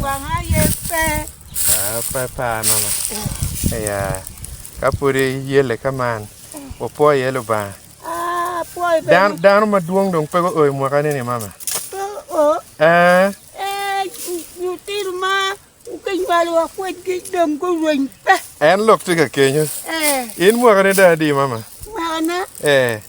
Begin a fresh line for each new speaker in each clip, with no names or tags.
Wanga aye pe. Pe pa nono. Aya. Ka pwodi yelle ka man, wapwo iye Lubanga. Dano, dano madwong dong pe guo i mwakani ni mama. Pe o. Eh. Eh, lutino ma kinywalo wa kwedgi dong gurweny pe. En lok tye ka kenyo. Eh. In mwakani dong adi mama? Mwakana. Eh.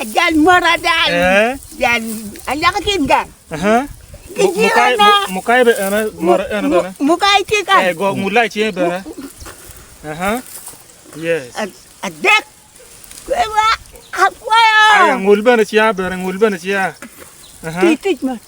Ajal mot ada jal alaka ki gang. Mukai be ene mot ene bene. Mukai tye kan. Eh go mulai tye bene. Aha. Yes. Adek. Kwewa akwayo. Aya ngul bene tye bene ngul bene tye. Aha. Tic tic ma.